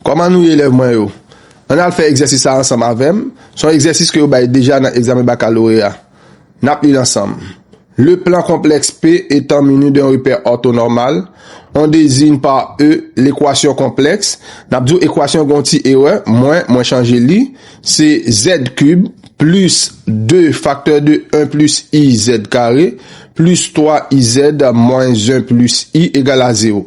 Kòman nou ye elèv mwen yo? Ann al fè egzèsis sa ansanm avè m, se yon egzèsis ke yo bay deja nan egzamen bakaloreya. N ap li l ansanm. Le plan konplèks P etan mini d'un repè òtonòmal, on deziyn pa E lekwasyon konplèks, n ap di w ekwasyon gen yon ti erè, mwen, mwen chanje li, se zèd kib plis 2 faktè de 1 plis i zèd kare plis 3 izèd mwens 1 plis i egal a zewo.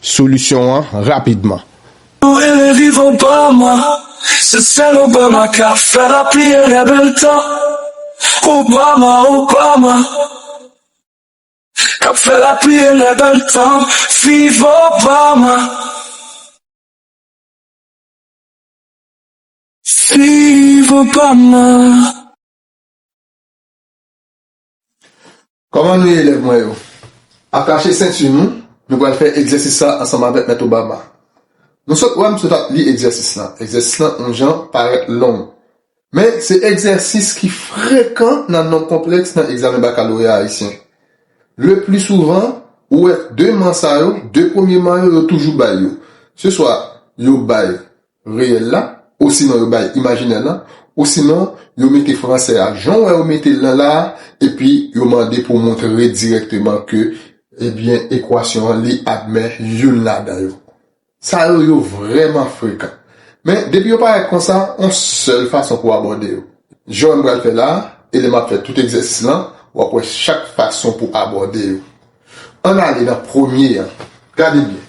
solisyon an rapidman. Ou ere viv Obama, se sèl Obama ka fè lapli ere bèl tan Obama, Obama kap fè lapli ere bèl tan Viv Obama Viv Obama. Kòman nou ye elèv mwen yo? Atache senti nou, nou pral fè egzèsis sa ansanm avèk Mèt Obama. Nou sot wè m sot ap li egzèsis lan. Egzèsis lan on jan parèt long. Men se egzèsis ki frekan nan nonb konplèks nan egzamen bakaloreya ayisyen. Le pli souvan, ou wè de man sa yo, de premye man yo, yo toujou bay yo. Se swa yo bay reyèl la, osinon yo bay imajinè lan, osinon yo mete fransè a jan w wè yo mete l lan la a, epi yo mande pou w montre dirèkteman ke ebyen ekwasyon an li admè youn ladan yo. Sa yo, yo vrèman frekan. Men, depi yo parèt konsa, on sèl fason pou w abòde yo. Jan wè m pral fè la a, e lè m ap fè tout egzèsis lan, w ap wè chak fason pou abòde yo. Ann ale nan premye an. Gade byen.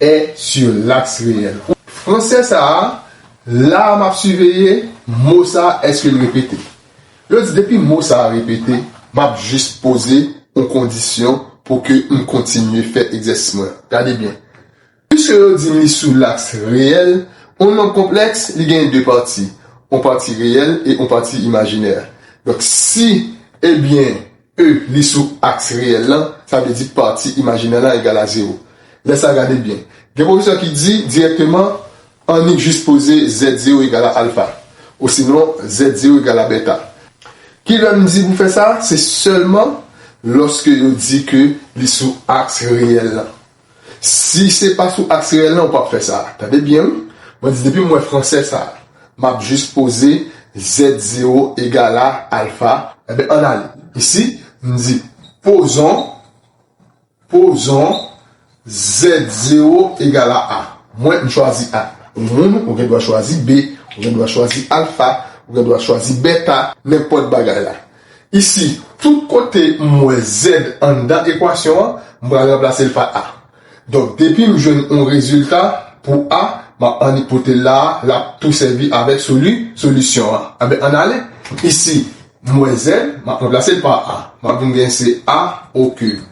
est sur l'axe reyèl. Fransè sa a, la a m ap siveye mo sa a èske l repete. Yo di depi mo sa a repete, m ap jis poze yon kondisyon pou ke m kontinye fè egzèsis mwen an. Gade byen. Piske yo di m li sou laks reyèl, yon nonb konplèks, li genyen de pati, yon pati reyèl e yon pati imajinè. Donk si, ebyen, E li sou aks reyèl lan, sa vle di pati imajinè lan egal a zewo. Lè sa a gade byen. Gen pwofesè ki di dirèkteman annik jis poze zèd zewo egal a alfa. Osinon zèd zewo egal a bèta. Ki lè m di pou fè sa? Se sèlman lòske yo di ke li sou aks reyèl lan. Si se pa sou aks reyèl lan ou pap fè sa. Tande byen wi. Mwen di depi m wè fransè sa a, m ap jis poze Z0 egal a alfa, enben ann ale. Isi, m di pozon, pozon Z0 egal a A. Mwen, m chwazi A. Ou menm, ou gen dwa chwazi B. Ou gen dwa chwazi alfa. Ou gen dwa chwazi bèta. Nenpòt bagay la. Isi, tout kote m wè Z anndan ekwasyon an, m pral ranplase l pa A. Donk, depi m jwenn yon rezilta pou A, m ap annipote l la a, l ap tou sèvi avèk soli, solisyon an. Anben, ann ale. Isi, m wè Z, m ap ranplase l pa A. M ap vin gen se A o kib.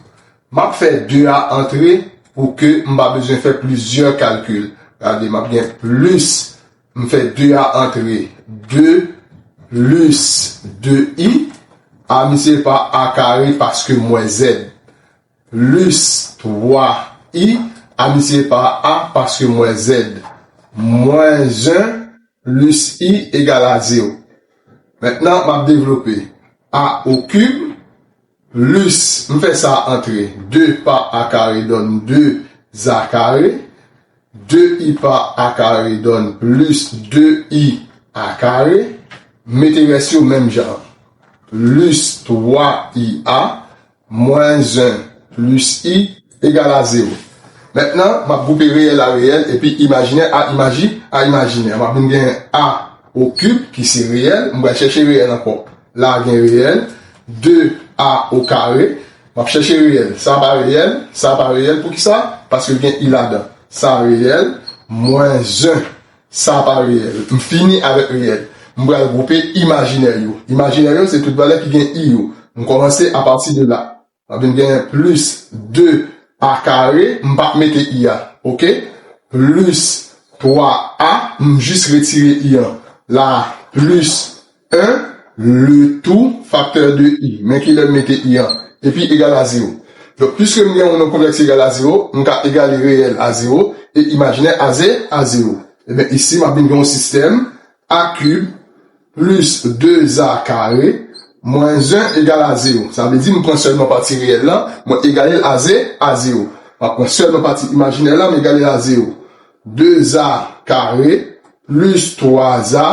M ap fè 2 a antre pou ke m pa bezwen fè plizyè kalkil. Gade, m ap gen plis. M fè 2 a antre de plis de i a misye pa a kare paske m wè zèd. Plis 3 i a misye pa a paske m wè zèd. Mwens 1 plis i egal a zewo. Mentnan m ap devlope a okib. Lus, M fè sa antre de pa a kare donn de za kare. De i pa a kare donn lus de i a kare. M mete rès yo menm jan an. Lus twa i a mwens 1 lus i. Egal a zewo. Mentnan, m ap gwoupe reyèl a reyèl epi imajinè a imaji a imajinè. M ap vin gen a o kib ki se reyèl. M pral chèche reyèl ankò. La a gen reyèl. De a o kare. M ap chèche reyèl. Sa a pa reyèl. Sa a pa reyèl. Poukisa? Paske l gen i ladan. Sa a reyèl. Mwen 1. Sa a pa reyèl. M fini avèk reyèl. M pral gwoupe imajinè yo. Imajinè yo se tout valè ki gen i yo. M kòmanse apati de la. Ap vin genyen plis 2 a kare, m pa p mete i a, ok, plis 3 a, m jis retire i an, la a, plis 1, le tou faktè de i, men ki lè m mete i an, epi egal a zewo. Donk, piske m gen yon nonb konplèks ki egal a zewo, m ka egale reyèl a zewo e imajinè a ze, a zewo. Eben, isi m ap vin gen yon sistèm A kib plis 2 a kare mwens 1 egal a zewo. Sa vle di m pran sèlman pati reyèl lan, mwen egale l a ze, a zewo. M ap pran sèlman pati imajinè lan, m egale l a zewo. 2 a kare plis 3 a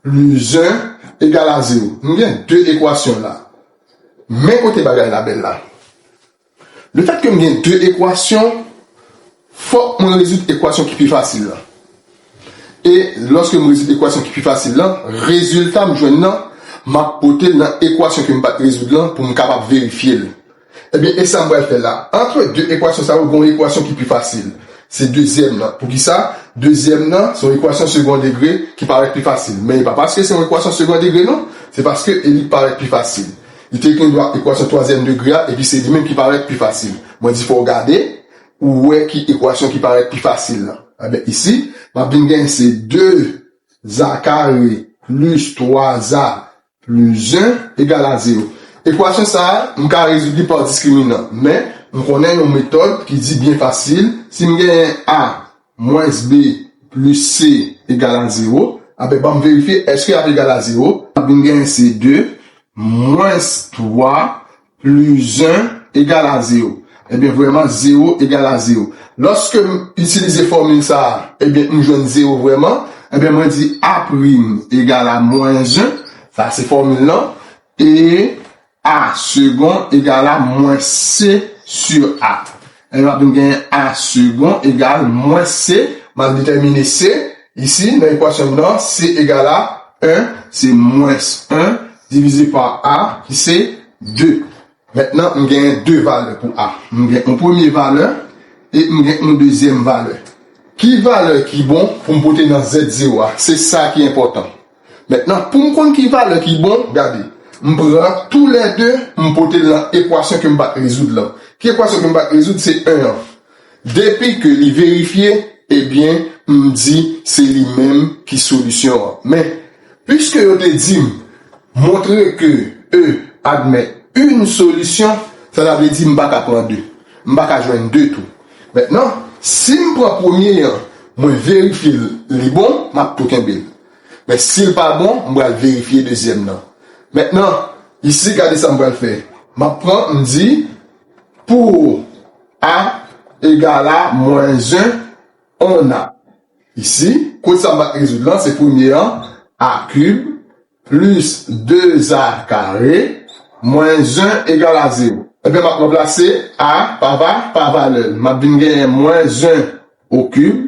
plis 1 egal a zewo. M gen 2 ekwasyon la. Men kote bagay la bèl la. Lefètke m gen de ekwasyon, fòk mwen rezoud ekwasyon ki pi fasil lan. E lòske m rezoud ekwasyon ki pi fasil lan, rezilta m jwenn nan, m ap pote l nan ekwasyon ke m pa t rezoud lan pou m kapab verifye l. Ebyen, e sa m pral fè la? Antre de ekwasyon sa yo, gen yon ekwasyon ki pi fasil. Se dezyèm nan. Poukisa? Dezyèm nan, se yon ekwasyon segon degre ki parèt pi fasil. Men e pa paske se yon ekwasyon segon degre non, se paske e li parèt pi fasil. Li te gen dwa ekwasyon twazyèm degre a epi se li menm ki parèt pi fasil. Mwen di fò w gade pou w wè ki ekwasyon ki parèt pi fasil lan. Enben isi, m ap vin gen se 2 za kare plis 3 za plis 1 egal a zewo. Ekwasyon sa a, m ka rezoud li pa diskriminan. Men, m konnen yon metòd ki di byen fasil, si m genyen a Mwens b plis c egal a zewo. Anben, ban m verifye, èske y ap egal a zewo? N ap vin genyen se 2 mwens 3 plis 1 egal a zewo. Ebyen, vrèman, zewo egal a zewo. Lòske m itilize fòmil sa a, ebyen, m jwenn zewo vrèman. Ebyen, mwen di A' egal a mwens 1, sa se fòmil lan, e A segon egal a mwen se sur a. Ebyen m ap vin genyen a segon egal mwen se, m ap detèmine se, isi nan ekwasyon m nan, se egal a 1, se mwens 1 divize pa a ki se 2. Mentnan m genyen 2 valè pou a. M gen yon premye valè e m gen yon dezyèm valè. Ki valè ki bon pou m pote nan zèt zewo a? Se sa ki enpòtan. Mentnan, pou m konn ki valè ki bon, gade, m pran tou lè de, m pote l nan ekwasyon ke m pa t rezoud lan. Ki ekwasyon ke m pa t rezoud? Se 1 an. Depi ke li verifye, ebyen, m di se li menm ki solisyon an. Men, piske yo te di m, montre ke E admèt yn solisyon, sa ta vle di m pa ka pran 2. M pa ka jwenn 2 tou. Mentnan, si m pran premye an, mwen verifye l, li bon, m ap tou kenbe l. Men sil pa bon m pral verifye dezyèm nan. Mentnan isi gade sa m pral fè. Map pran m di pou a egal a mwens 1 on a. Isi kot sa m pral rezoud lan se premye an a kib plis 2 a kare mwens 1 egal a 0. Ebyen map ranplase a pa va pa valè l. Map vin genyen mwens 1 o kib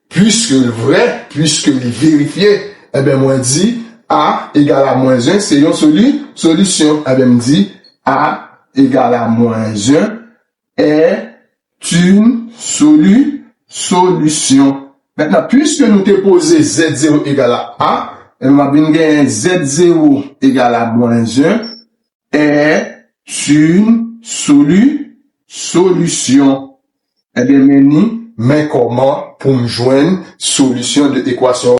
Puiske l vrè, puiske li verifye, enben mwen di, A egal a mwens 1 se yon soli, solisyon. Enben m di, A egal a mwens 1 est une soli, solisyon. Mentnan, puiske nou te poze Z0 egal a A, enben m ap vin genyen Z0 egal a mwens 1, Èè sun solu solution Ebyen men ni men kòman poum jwenn solution de equation.